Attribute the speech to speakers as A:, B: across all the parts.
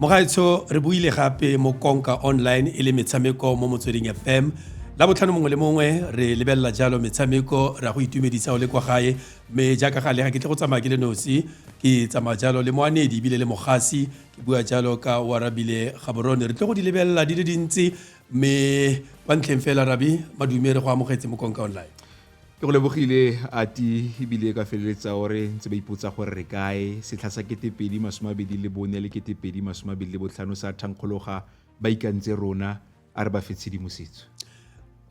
A: mogaetsho re buile gape mo konka online e le metshameko mo motsweding fm la botlhano mongwe le mongwe re lebelela jalo metshameko ra go itumedisa o le kwa gae mme jaaka ga lega ke tle go tsamaya ke le nosi ke tsamaya jalo le moanedi ebile le mogasi ke bua jalo ka warabile gaborone re tle go di lebelela di le dintsi mme kwa ntlheng fela rabi madume re go amogetse mo konka online ke go lebogile
B: a ti ebile ka feleletsa o re ntse ba ipotsa gore re kae setlha sa ketepedi masome a bedi le bone le ketepedi masome a bedi le botlhano sa thankgologa ba ikantse rona a re ba fe tshedimosetso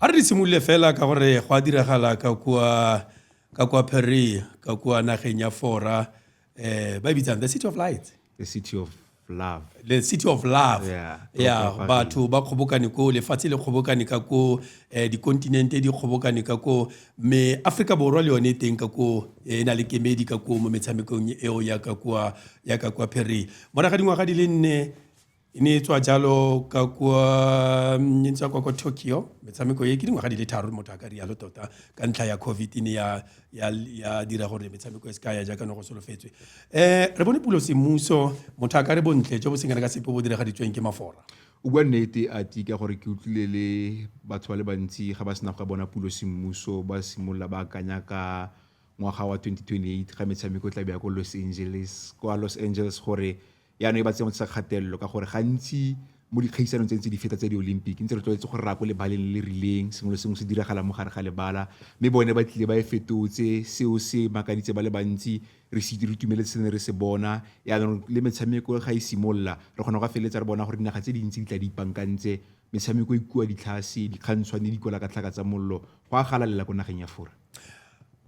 B: a re di
A: simolole fela ka gore go a diragala ka kua ka kua perea ka kua nageng ya fora eh ba e bitsang the city of light the city of
B: love the city of
A: love yeah, yeah
B: batho ba kgobokane
A: ko lefatshe le kgobokane ka ko eh, dikontinente di kgobokane ka ko mme aforika borwa le yone e teng ka ko eh, e na le kemedi ka ko mo metshamekong eo ya ka kwa ya ka kwa phere moraga dingwaga di le nne e ne e tswa jalo ka kwa mm, e ntswa kwa kwa tokyo metshameko e ke dingwaga di le tharo motho a ka rialo tota ka ntlha ya covid e ne ya, ya, ya dira gore metshameko e se ka ya jaaka ne go solofetswe um re bone pulo semuso motho a ka re bontle jo bo sengana ka sepe bo diragaditsweng ke mafora o bua nnete
B: a ti ka gore ke utlwile le batho ba le bantsi ga ba sena go ka bona pulo semmuso ba simolola ba akanya ka ngwaga wa 2028 ga metshameko e tla beya ko los angeles kwa los angeles gore Jaanong e ba tsengwatsa kgatelelo ka gore gantsi mo dikgaisanong tse ntse di feta tse di-olympic ntse re tlwaetse gore ra ko lebaleng le le rileng sengwe le sengwe se diragala mo gare ga lebala mme bone ba tlile ba e fetotse seo se makaditse ba le bantsi re se re itumeletse se ne re se bona yaanong le metshameko ga e simolola re kgona go feleletsa re bona gore dinaga tse dintsi di tla di ipankantse metshameko e kua ditlhase dikgantshwane di kwala ka tlhaka tsa mollo go a galalela ko nageng ya fora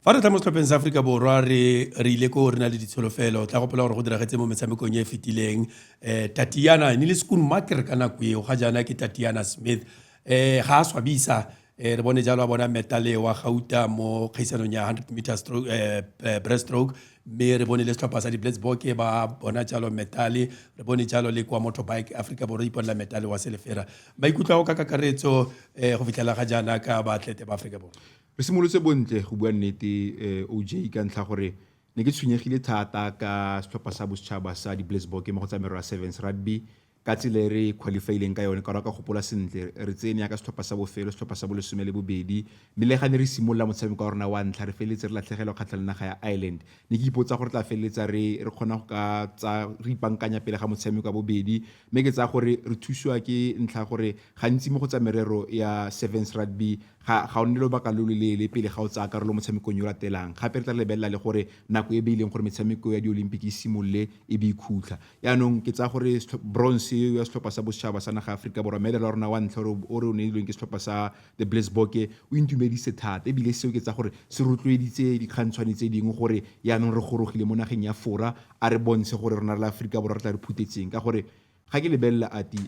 B: fa re tla
A: mo setlhopheng sa aforika borwa re re ile ko re na le ditsholofelo tla gopola gore go diragetse mo metshamekong e e fetileng um tatiana ne le sekun maker ka nako eo ga jaana ke tatiana smith um ga a swabisa um re bone jalo a bona metale wa gauta mo kgaisanong ya hundred meter stroke um breast stroke mme re bone le setlhopha sa di-blatsboke ba bona jalo metale re bone jalo le kwa motho bike aforika borwa iponela metale wa selefera maikutlo a go ka kakaretso um go fitlhela ga jaana ka baatlete ba aforika borwa Re simolotse bontle
B: go bua nnete eh, OJ ka ntlha gore ne ke tshwenyegile thata ka setlhopha sa bosetšhaba sa di-Blitzbokke mo go tsa merero ya sevens rugby ka tsela e re qualifyileng ka yone ka gore ka gopola sentle re tsene yaka setlhopha sa bofelo setlhopha sa bolesome le bobedi mme le ga ne re simolola motshameko wa rona wa ntlha re feleletse re latlhegelwa kgatlha le naga ya ireland ne ke ipotsa gore tla feleletsa re re kgona go ka tsa re ipankanya pele ga motshameko wa bobedi mme ke tsaya gore re thusiwa ke ntlha gore gantsi mo go tsa merero ya sevens rugby ga ga o nne lobaka lo lo leele pele ga o tsaya karolo mo motshamekong yo o latelang gape re tla lebelela le gore nako e beileng gore metshameko ya di-olympic e simolole e be e khutla yaanong ke tsaya gore bronze eo ya setlhopha sa bosetšhaba sa naga aforika borwa medal wa rona wa ntlha o re o neilweng ke setlhopha sa the blisboke o intumedise thata ebile seo ke tsaya gore se rotloeditse dikgantshwane tse dingwe gore yaanong re gorogile mo nageng ya fora a re bontshe gore rona re le aforika borwa re tla re phuthetseng ka gore Ga ke lebelela Ati,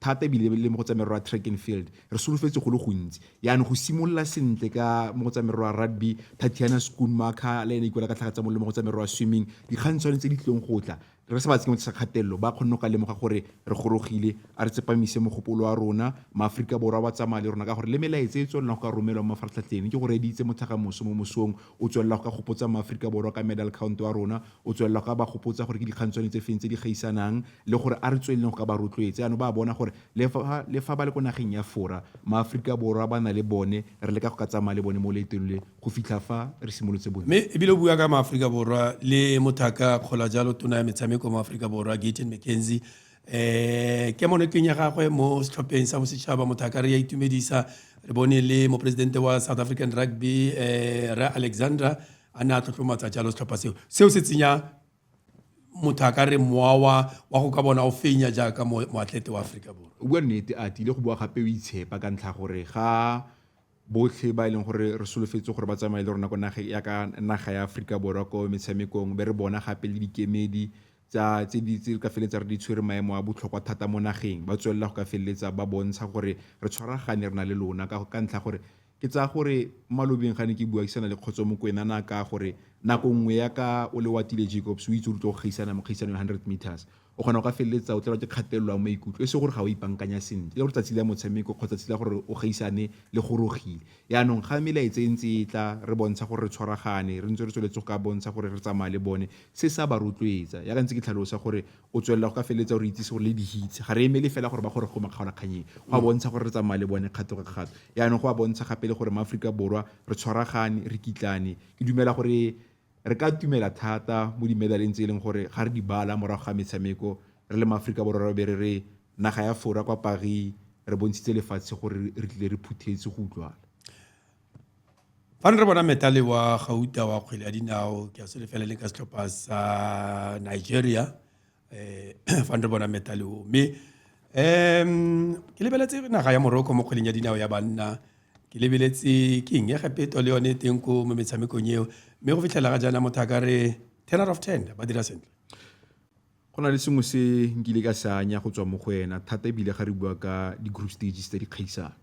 B: thata ebile le mo go tsa merero ya track and field, re solofetse go le gontsi. Jaanong go simolola sentle ka mo go tsa merero ya rugby, Tatiana Schoonmaker le ene a ikuela ka tlhaga tsa mollo mo go tsa merero ya swimming, dikgantshwane tse di tlileng go tla, re sa ba tsenye mo tlase ga kgatelelo, ba kgonne go ka lemoga gore re gorogile. A re tsepamise mogopolo wa rona, maAforika Borwa ba tsamaya le rona, ka gore le melaetsa e e tswelelang go ka romelwa mo mafaratlhatlheng, ke go reeditse motlhagamoso mo mosong, o tswelela go ka gopotsa maAforika Borwa ka medal count wa rona, O tswelela go ka ba gopotsa gore ke dikgang tsone tse feng tse di gaisanang le gore a re tsweleleng go ka ba rotloetsa. Jaanong ba a bona gore le fa le fa ba le ko nageng ya Fora, maAforika Borwa ba na le bone, re leka go ka tsamaya le bone mo loetong le go fitlha fa re simolotse bone. Mme ebile o bua ka maAforika
A: Borwa le mothaka kgola jalo tona ya metshameko mo Aforika Borwa, Gayton McKenzie. Um kemonokeng ya gagwe mo setlhopheng sa bosetšhaba, mothaka re a itumedisa. Re bone le moporesidente wa South African Rugby um Rre Alexandra a ne a tlotlomatsa jalo setlhopha seo seo se tsenya motho a ka re mowa wa wa go ka bona o fenya jaaka moatlete wa aforika borwa o bua nnete a tile
B: go bua gape o itshepa ka ntlha gore ga botlhe ba e leng gore re solofetse gore ba tsamaye le rona ko naga ya ka naga ya aforika borwa ko metshamekong be re bona gape le dikemedi tsa tse di tse re ka feleletsa re di tshwere maemo a botlhokwa thata mo nageng ba tswelela go ka feleletsa ba bontsha gore re tshwaragane re na le lona ka ka ntlha gore ke tsaya gore malobeng ga ne ke buakisana le kgotso mokwena na ka gore nako nngwe ya ka o le watile jacobs o itse o tlo go gaisana mo kgaisano 100 meters o kgona go ka feleletsa o tlelwa ke kgatelelo ya maikutlo e se gore ga o ipankanya sentle le gore tsatsi la motshameko kgotsa tsatsi la gore o gaisane le gorogile Jaanong ga melaetsa e ntse e tla, re bontsha gore re tshwaragane, re ntse re tsweletse go ka bontsha gore re tsamaya le bone, se se a ba rotloetsa. Jaaka ntse ke tlhalosa gore o tswelela go ka feleletsa o re itsise gore le di-hits, ga re emele fela gore ba goroge ko makgaolakgannyeng, go a bontsha gore re tsamaya le bone kgato ka kgato. Jaanong go a bontsha gape le gore maAforika Borwa re tshwaragane, re kitlane. Ke dumela gore Re ka itumela thata mo dimedaleng tse e leng gore ga re di bala morago ga metshameko re le maAforika Borwa re be re re naga ya Fora kwa Paris re bontshitse lefatshe gore re tlile re phuthetse go utlwala.
A: Fa ne re bona metale wa gauta wa kgwele ya dinao ke a sele fela le ka setlhopha sa Nigeria eh fa re bona medal o mme um ke lebeletse naga ya moroko mo kgweding ya dinao ya banna ke lebeletse ke eng ya gapeto le yone teng ko mo metshamekong eo mme go fitlhela ga jaana motho a ka re ten out of ten ba dira sentle
B: go na le sengwe se nkile ka se anya go tswa mo go ena thata ebile ga re bua ka di-group stages tse di kgaisang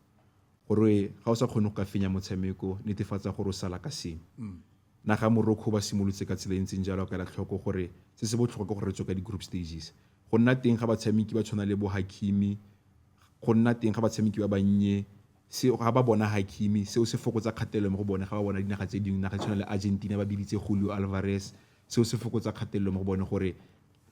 B: gore ga o sa kgone go ka fenya motshameko netefatsa gore o sala ka sengwe mm. Naga ya Morocco ba simolotse ka tsela e ntseng jalo ka ela tlhoko gore se se botlhokwa ke gore re tswe ka di-group stages. Go nna teng ga batshameki ba tshwana le bo Hakimi, go nna teng ga batshameki ba bannye se ga ba bona Hakimi seo se fokotsa kgatelelo mo go bone ga ba bona dinaga tse dingwe naga e tshwana le Argentina ba biditse Julio Alvarez seo se fokotsa kgatelelo mo go bone gore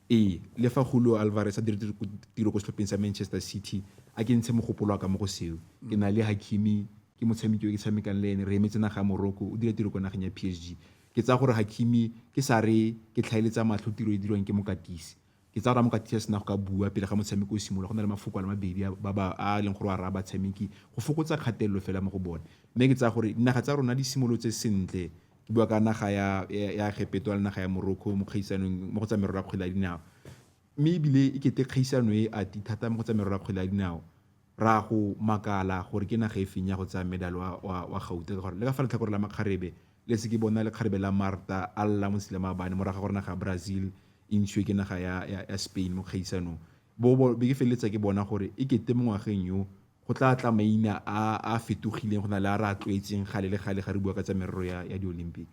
B: Ee, le fa Julio Alvarez a dirile tiro ko setlhopheng sa Manchester City, a ke ntshe mogopolo wa ka mo go seo. Ke na le Hakimi, ke motshameki yo ke tshamekang le ene, re emetse naga ya Morocco, o dira tiro kwa nageng ya PSG. Ke tsaya gore Hakimi ke sa re ke tlhaeletsa matlho tiro e e dirwang ke mokatisi. Ke tsaya gore ha mokatisi a sena go ka bua pele ga motshameko o simolola, go nna le mafoko a le mabedi a a leng gore o a raya batshameki go fokotsa kgatelelo fela mo go bone. Mme ke tsaya gore dinaga tsa rona di simolotse sentle, bua ka naga ya ya Egepeto le naga ya Morocco mo kgaisanong mo go tsa merero ya kgwele ya dinao mme ebile e kete kgaisano e a ti thata mo go tsa merero ya kgwele ya dinao ra go makala gore ke naga e feng ya go tsaya medal wa wa, wa gauta ka gore le ka fa letlhakore la makgarebe le se ke bona le kgarebe la marta a lla mo tshile maabane mo raga gore naga ya brazil e ntshiwe ke naga ya, ya, ya spain mo kgaisanong bo, bo be ke feleletsa ke bona gore e kete mo ngwageng yo go tla tla maina a a fetogileng go na le a re a tlwaetseng gale le gale ga re bua ka tsa merero ya, ya di-olympic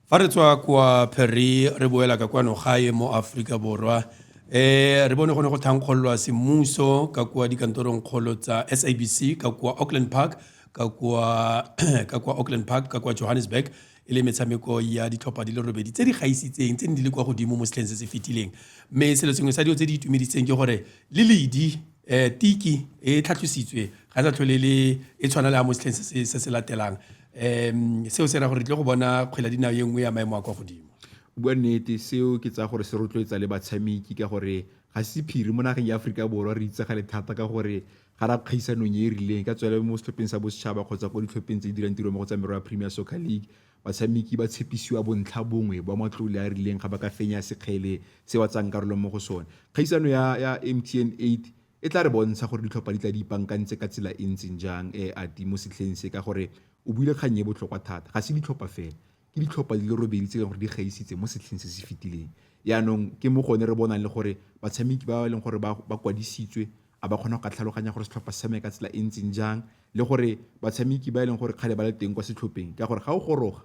B: fa
A: re tswa kwa pheri re boela ka kwano gae mo aforika borwa um re bone go ne go thankgololwa semmuso ka kwa dikantorong kgolo tsa sabc ka kwa auckland park ka kwa ka kwa auckland park ka kwa johannesburg e le metshameko ya ditlhopha di le robedi tse di gaisitseng tse ne di le kwa godimo mo setlheng se se fetileng mme selo sengwe sa dilo tse di itumeditseng ke gore le ledi Eh, tiki e tlhatlositswe ga e sa tlhole le e tshwana le ya mo setlheng se se latelang um seo se ra gore re tle go bona kgwela dinao e nngwe ya maemo a kwa godimo bua nnete
B: seo ke tsaya gore se rotloetsa le batshameki ka gore ga se sephiri mo nageng ya aforika borwa re itsagale thata ka gore ga ra kgaisanong e e rileng ka tswele mo setlhopheng sa bosetšhaba kgotsa ko ditlhopheng tse di dirang tiro mo go tsa merwa ya premier soccer league Batshameki ba tshepisiwa bontlha bongwe ba matlole a a rileng ga ba ka fenya sekgele se ba tsayang karolo mo go sone. Kgaisano ya ya MTN 8 e tla re bontsha gore ditlhopha di tla di ipankantse ka tsela e ntseng jang e ati mo setlheng se ka gore o buile kgang e botlhokwa thata. Ga se ditlhopha fela, ke ditlhopha di le robedi tse e leng gore di gaisitse mo setlheng se se fetileng. Yaanong ke mo gone re bonang le gore batshameki ba e leng gore ba ba kwadisitswe A ba kgona go ka tlhaloganya gore setlhopha se tshameka ka tsela e ntseng jang le gore batshameki ba e leng gore kgale ba le teng kwa setlhopheng ka gore ga o goroga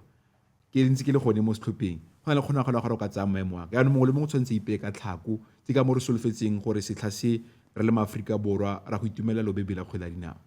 B: ke ntse ke le gone mo setlhopheng go na le kgonagalo ya gore o ka tsaya maemo a ka yaanong mongwe le mongwe tshwanetse ipeye ka tlhako ke ka mo re solofetseng gore setlha se re le maaforika borwa ra go itumelela lobebe la kgwele ya dinao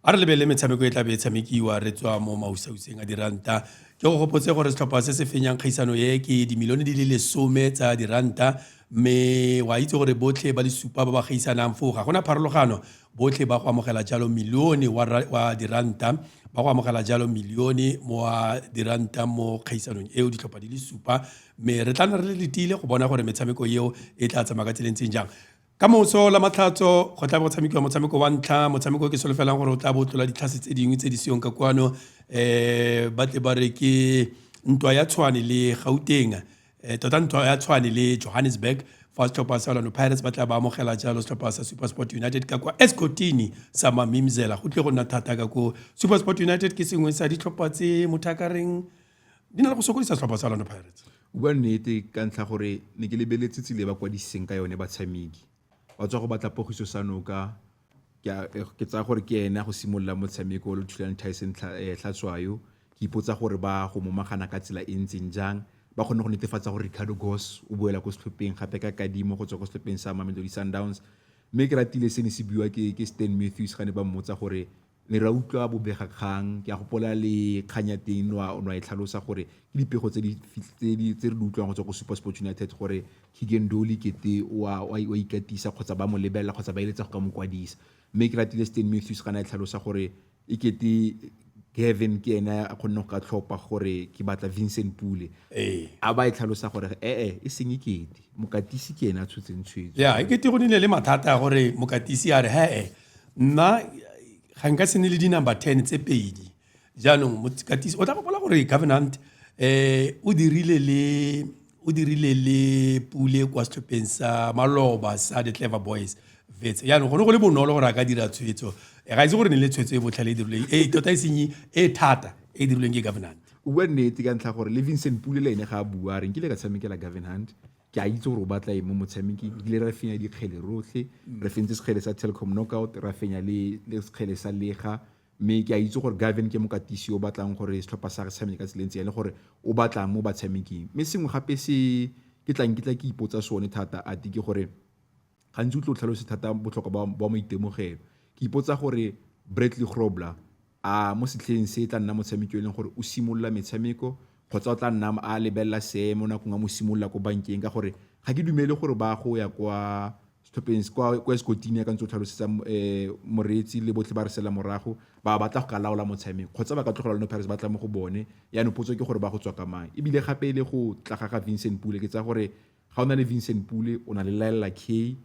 B: A re lebelele
A: metshameko e tla be e tshamekiwa re tswa mo mausauseng a diranta. Ke go gopotse gore setlhopha se se fenyang kgaisano e ke dimilione di le lesome tsa diranta mme wa itse gore botlhe ba le supa ba ba gaisanang foo ga gona pharologano botlhe ba go amogela jalo milione wa diranta ba go amogela jalo milione wa diranta mo kgaisanong eo ditlhopha di le supa mme re tla nna re le letile go bona gore metshameko eo e tla tsamaya ka tseleng tseng jang Ka moso la Matlhatso go tla bo go tshamekiwa motshameko wa ntlha motshameko o ke solofelang gore o tla bo tlola ditlhase tse dingwe tse di seyong ka kwano um ba tle ba re ke ntwa ya tshwane le gauteng um tota ntwa ya tshwane le johannesburg fa setlhopha sa orlando pirates ba tla ba amogela jalo setlhopha sa super sport united ka kwa escotini sa mamimzela go tle go nna thata ka ko super sport united ke sengwe sa ditlhopha tse motho a ka reng di na le go sokodisa setlhopha sa orlando pirates o bua nnete
B: ka ntlha gore ne ke lebeletse tsile ba kwadiseng ka yone batshameki ba tswa go batla pogiso sa noka ke tsaya gore ke ene go simolola motshameko o le thulane tyson eh, tlhatswayo ke ipotsa gore ba go momagana ka tsela e ntseng jang ba kgone go netefatsa gore ricardo gos o boela ko setlhopheng gape ka kadimo go tswa ko setlhopheng sa mamelodi sundowns mme ke ratile se ne se buiwa ke stan matthews ga ne ba mmotsa gore Ne ra utlwa bobegakgang, ke a gopola le kgang ya teng nwa nwa e tlhalosa gore ke dipego tse di tse di tse re di utlwang go tswa go SuperSport United gore Keagan Dolly kete wa wa wa ikatisa kgotsa ba mo lebelela kgotsa ba eletsa go ka mo kwadisa. Mme ke ratile Stan Matthews ga ne a tlhalosa gore e kete Gavin ke ene a kgonne go ka tlhopa gore ke batla Vincent Pule. Ee. A ba e tlhalosa gore e e e seng e kete mokatisi ke ene a tshotseng tshwetso. Yeah, e kete go nile le
A: mathata gore mokatisi a re he e nna ga nka se ne le di-number ten tse pedi jaanong mokatisi o tla gopola gore governant um o dirile le o dirile le pule kwa setlhopheng sa maloba sa the clever boys vets jaanong gone go le bonolo gore a ka dira tshwetso eh, ga itse gore ne le tshwetso e botlhale e dirilweng e tota e senye e thata e dirilweng ke governant o bua nnete ka ntlha
B: gore le vincent pule le ene ga a bua re nkile ka tshamekela governant ke a itse gore o batla eng mo motshameking ebile re fenya dikgele rotlhe re fentse sekgele sa telecom knockout ra fenya le sekgele sa lega mme ke a itse gore gaven ke mokatisi o batlang gore setlhopha sa re tshameke ka tseleng tse le gore o batlang mo batshameking mme sengwe gape se ke tlang ke tla ke ipotsa sone thata ati ke gore Gantsi o tlo tlhalose thata botlhokwa ba maitemogelo. Ke ipotsa gore Bradley Grobler a mo setlheng se e tla nna motshameki e leng gore o simolola metshameko kgotsa o tla nna a lebelela seemo nakong a mo simolola ko bankeng ka gore ga ke dumele gore ba go ya kwa setlhopheng kwa kwa Escotini ya ka ntse o tlhalosetsa um moreetsi le botlhe ba re sela morago ba batla go ka laola motshameko kgotsa ba ka tlogela lone Pirates ba tla mo go bone yaanong potso ke gore ba go tswa ka mang ebile gape e le go tla ga ga Vincent Pule ke tsaya gore ga o na le Vincent Pule o na le Laella Kay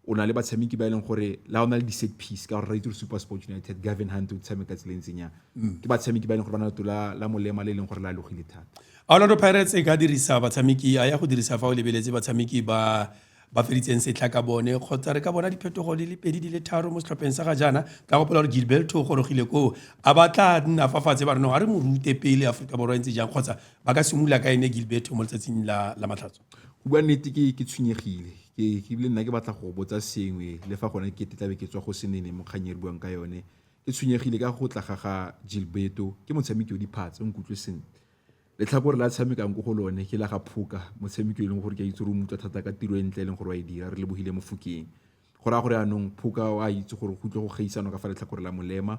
B: o na le batshameki ba e leng gore la o na le di-set piece ka gore ra itse gore super sport united gavin hunt o tshameka tsela e ntseng yang mm. ke batshameki ba e leng gore ba na leto la molema le e leng gore la logile thata orlando pirates e
A: ka dirisa batshameki a ya go dirisa fa o lebeletse batshameki ba ba feditseng setlha ka bone kgotsa re ka bona diphetogo di le pedi di le tharo mo setlhopheng sa ga jaana ka gopola gore gilberto o gorogile koo a ba tla nna fa fatshe ba re no ga re mo rute pele aforika borwa e ntse jang kgotsa ba ka simolola ka ene gilberto mo letsatsing la, la matlhatso go bua nnete ke
B: ke tshwenyegile ke ke bile nna ke batla go botsa sengwe le fa gone ke tetlabe ke tswa go senene mo kgang e re buang ka yone ke tshwenyegile ka go tla ga ga gilberto ke motshameki o diphatsa o nkutlwe sentle letlhakore la tshamekang ko go lone ke la ga phoka motshameki e leng gore ke a itse re o mutlwa thata ka tiro e ntle e leng gore wa e dira re lebogile mofokeng go raya gore anong phoka o a itse gore go tle go geisanwa ka fa letlhakore la molema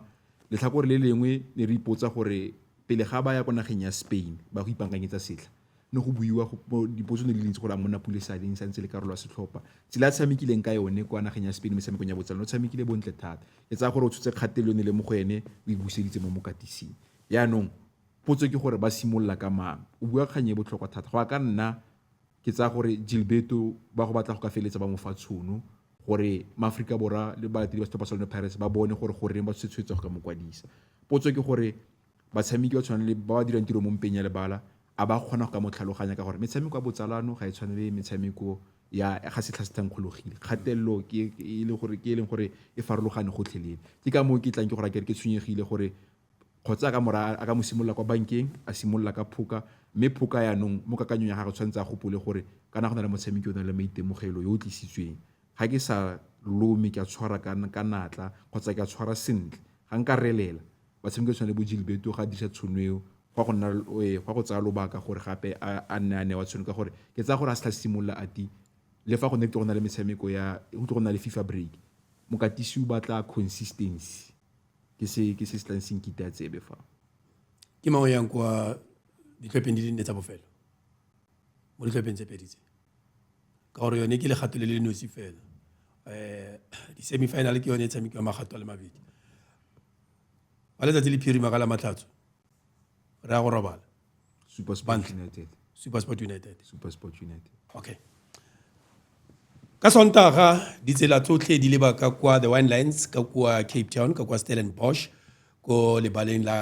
B: letlhakore le lengwe ne re ipotsa gore pele ga ba ya kwa nageng ya spain ba go ipankanyetsa setlha ne go buiwa dipotso ne di le ntsi gore a monna pule sa leng santse le karolo ya setlhopha tsela a tshamekileng ka yone kwa nageng ya spain metshamekong ya botsalo o tshamekile bontle thata e tsaya gore o tshotse kgatelelo ne le mo go ene o e buseditse mo mokatising yaanong potso ke gore ba simolola ka mang o bua kgang e botlhokwa thata go ya ka nna ke tsaya gore Gilberto ba go batla go ka feleletsa ba mo fa tshono gore maaforika borwa le balatedi ba setlhopha sa lone pirates ba bone gore goreng ba tshwetse tshwetsa go ka mo kwadisa potso ke gore batshameki ba tshwanang le ba ba dirang tiro mo mpeng ya lebala a ba kgona go ka mo tlhaloganya ka gore metshameko ya botsalano ga e tshwane le metshameko ya ga setlha se thankgologile kgatelelo ke e leng gore ke e leng gore e farologane gotlhelele ke ka moo ke tlang ke gore ke re ke tshwenyegile gore kgotsa a ka mora a ka mo simolola kwa bankeng a simolola ka phoka mme phoka yaanong mo kakanyong ya gagwe tshwanetse a gopole gore kana go na le motshameki o na le maitemogelo yo o tlisitsweng ga ke sa lome ke a tshwara ka natla kgotsa ke a tshwara sentle ga nka relela batshameki tshwana le bo Gilberto ga disa tshono eo go go nna eh, go go tsaya lobaka gore gape a nne a ne wa tshono ka gore ke tsaya gore a se tla simolola a ti le fa go ne ke go na le metshameko ya go tle go na le FIFA break mokatisi o batla consistency ke se ke se se tlang se nkite a tsebe fa ke mang
A: o yang kwa ditlhopheng di le nne tsa bofelo mo ditlhopheng tse pedi tse ka gore yone ke legato le le nosi fela um di-semifinal ke yone e tshamekiwa magato a le mabedi ba letsatsi le phirima ka la matlhatso re ya go robala supersport
B: united supersport united supersport united okay
A: ka sontaga ditsela tsotlhe di leba ka kwa the wine lines ka kwa cape town ka kwa stellenbosch ko lebaleng la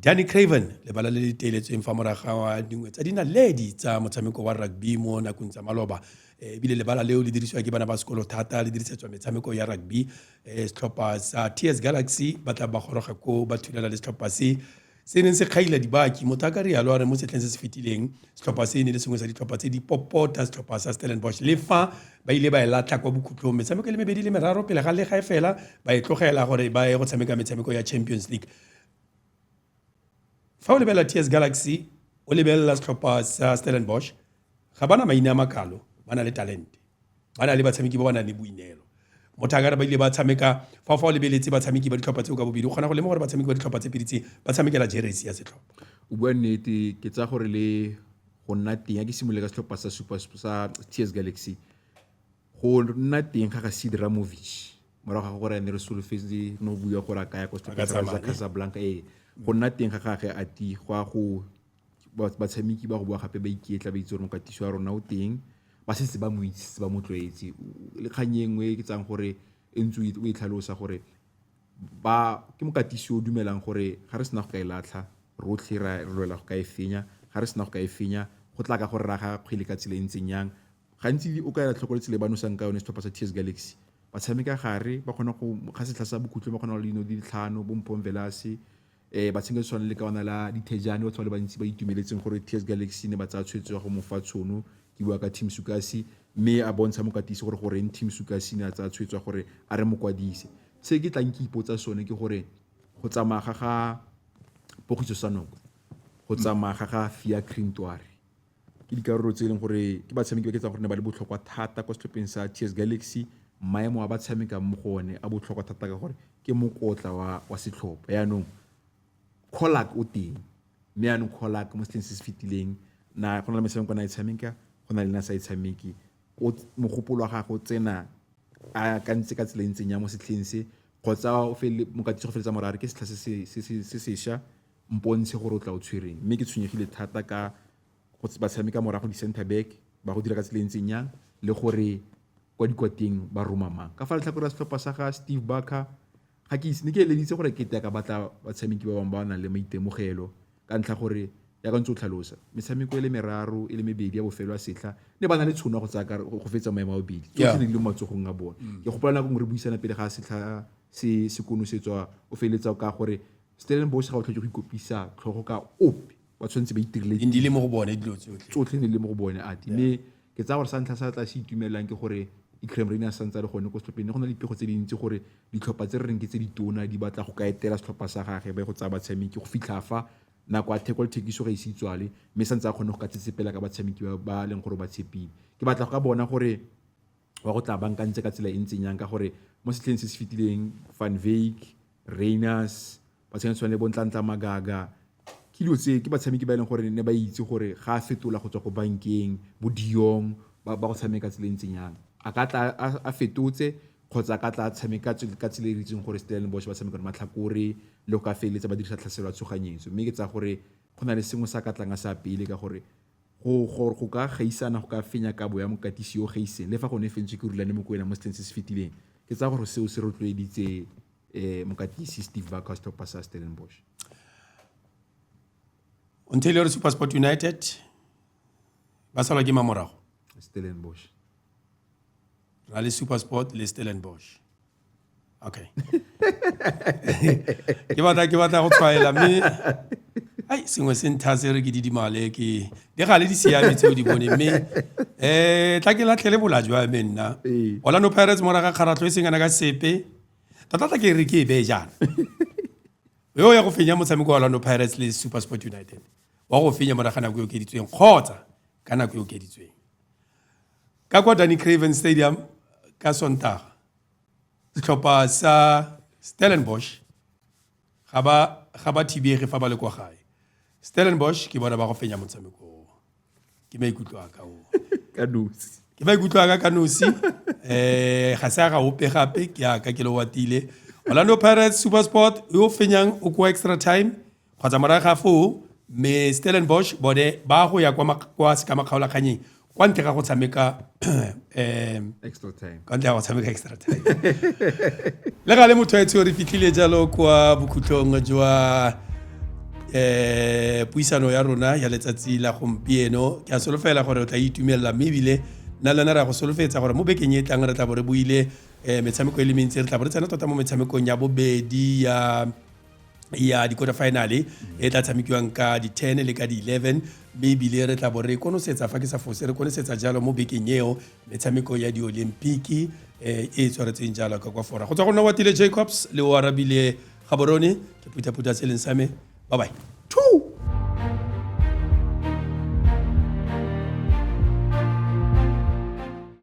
A: danny craven lebala le le teeletsweng fa moraga wa dingwe tsa dinaledi tsa motshameko wa rugby mo nakong tsa maloba eh, ebile lebala leo le dirisiwa ke bana ba sekolo thata le dirisetswa metshameko ya rugby e setlhopha sa ts galaxy ba tla ba goroga ko ba thulela le setlhopha se se neng se kgaila dibaki motho a ka rialo a re mo setlheng se se fetileng setlhopha se ne le sengwe sa ditlhopha tse di popota setlhopha sa stellenbosch le fa ba ile ba e latlha kwa bokhutlhong metshameko e le mebedi le meraro pele ga legae fela ba e tlogela gore ba ye go tshameka metshameko ya champions league fa o lebelela ts galaxy o lebelela setlhopha sa stellenbosch ga ba na maina a makalo ba na le talente ba na le batshameki ba ba nang le boineelo mothakare ba ile ba tshameka fa fa o lebeletse batshameki ba ditlhopha tseo ka bobedi o kgona go lema gore batshameki ba ditlhopha tse pedi tse ba tshamekela jeresi ya setlhopha o bua nnete
B: ke tsaya gore le go nna teng ya ke simolole ka setlhopha sa super sa ts galaxy go nna teng ga ga sid ramovic morago ga gore ne re solofetse no bua gore a kaya kwa setlhopha sa casablanca ee go nna teng ga gage a ti go a go batshameki ba go bowa gape ba iketla ba itse gore mokatiso wa rona o teng, ba setse ba mo itse, setse ba mo tlwaetse. Le kgang e nngwe e ke tsayang gore e ntse o e tlhalosa gore ba, ke mokatisi o dumelang gore ga re sena go ka e latlha rotlhe re lwela go ka e fenya, ga re sena go ka e fenya go tla ka gore re aga kgwele ka tsela e ntseng yang. Gantsi o ka ela tlhoko le tsela e ba nosang ka yone setlhopha sa TS Galaxy, ba tshameka gare ba kgona go, ga setlha sa bokhutlong ba kgona go dino di le tlhano bo Mpho Mvelase, Eh, ba tshameka tshwana le ka ona la dithejane batho ba le bantsi ba itumeletseng gore ts galaxy ne ba tsaya tshwetso ya go mofa tshono ke bua ka team sukasi mme a bontsha mokatisi gore goreng team sukasi ne a tsaya tshwetso ya gore a re mokwadise se ke tlang ke ipotsa sone ke gore go tsamaya ga ga pogiso sa noko go tsamaya ga ga fia crintware ke dikarolo tse e leng gore ke batshameki ba ke tsang gore ne ba le botlhokwa thata kwa setlhopheng sa TS Galaxy maemo a ba tshamekang mo go one a botlhokwa thata ka gore ke mokotla wa wa setlhopha yaanong Colak o teng mme yaanong Colak mo setlheng se se fetileng na go na le metshameko na e tshameka go na le na sa e tshameke o mogopolo wa gagwe o tsena a ka ntse ka tsela e ntseng ya mo setlheng se kgotsa o fele mokatisi go feletsa morare ke setlha se se sesha Mpontshe gore o tla o tshwereng. Mme ke tshwenyegile thata ka go ba tshameka morago di-center back, ba go dira ka tsela e ntseng jang le gore kwa dikwateng ba roma mang. Ka fa letlhakoreng la setlhopha sa ga Steve Barker, ga ke itse, ne ke eleditse gore kete a ka batla batshameki ba bangwe ba ba nang le maitemogelo ka ntlha gore jaaka ntse o tlhalosa, metshameko e le meraro e le mebedi ya bofelo ya setlha ne ba na le tshono ya go tsaya go fetsa maemo a bobedi tsotlhe ne di le mo matsogong a bone. Ke gopola nako nngwe re buisana pele ga setlha se se konosetswa o feleletsa ka gore Stellenbosch ga o tlhoke go ikopisa tlhogo ka ope ba tshwanetse ba itirile e ndile mo go bone dilo
A: tsotlhe tsotlhe ne le mo go bone
B: ati mme ke tsaya gore sa ntlha sa tla se itumelang ke gore Ikrem Rain a santse a le gone ko setlhopheng ne go na le dipego tse dintsi gore ditlhopha tse re reng ke tse ditona di batla go ka etela setlhopha sa gage ba go tsaya batshameki go fitlha fa nako a theko le thekiso ga ise e itswale mme santse a kgone go ka tsetsepela ka batshameki ba leng gore ba tshepile ke batla go ka bona gore wa go tla bankantse ka tsela e ntseng yang ka gore mo setlheng se se fetileng van vake rainers ba tshwanetse tshwane le bontlantla magaga ke dilo tse ke batshameki ba e leng gore ne ba itse gore ga a fetola go tswa ko bankeng bo diong ba go tshameka tsela e ntseng yang a ka tla a fetotse kgotsa a ka tla tshameka ka tsela e re itseng gore stellenbosch ba tshameka matlhakore le go ka feleletsa ba dirisa tlhaselo ya tshoganyetso mme ke tsa gore go na le sengwe sa ka tlang a sa pele ka gore Go gore go ka gaisana go ka fenya kabo ya mokatisi yo o gaiseng le fa gone e fentswe ke Rulani Mokoena mo setlheng se se fetileng, ke tsaya gore seo se rotloeditse mokatisi Steve Backhaus Topper sa Stellenbosch.
A: Ontario Supersport United ba salwa ke mamorago. Stellenbosch. Rally Supersport le Stellenbosch. Okay. ke batla ke batla go tshwaela mme ai sengwe se nthase re ke didimale ke di ga le di siame tseo di bone mme eh tla ke latlhele bola jwa me nna ee. Orlando Pirates mora ga kgaratlho e sengana ka sepe tota tla ke re ke e bee jaana yo ya go fenya motshameko wa Orlando Pirates le SuperSport United wa go fenya mora ga nako e okeditsweng kgotsa ka nako e okeditsweng Ka kwa Danie Craven Stadium ka Sontaga, setlhopha sa Stellenbosch ga ba ga ba thibege fa ba le kwa gae. Stellenbosch ke bona ba go fenya motshameko o. Ke maikutlo a ka o. ka nosi
B: ke ba ikutlwa ka ka
A: nosi eh ga se a ga ope gape ke a ka ke le watile Orlando Pirates Supersport yo fenyang o kwa extra time Kgotsa morago ga foo, Mme Stellenbosch bone ba go ya kwa sekamakgaolakgannyeng kwa ntle ga go tshameka
B: extra time. Kwa ntle ga go tshameka extra
A: time. Le gale motho etsho re fitlhile jalo kwa bokhutlong jwa eh puisano ya rona ya letsatsi la gompieno ke a solofela gore o tla itumelela mme ebile nna le wena re ya go solofetsa gore mo bekeng e tlang re tla bo re buile um metshameko e le mentsi re tla bo re tsena tota mo metshamekong ya bobedi ya ya di-quarter finale e tla tshamekiwang ka di-10 le ka di-11 mme ebile re tla bo re konosetsa fa ke sa fose re konosetsa jalo mo bekeng eo metshameko ya di-olympiki eh, e e tshwaretsweng jalo ka kwa fora go tswa go nna watile jacobs le o arabile gaborone ke phuthaphutha se leng sa me bye bye two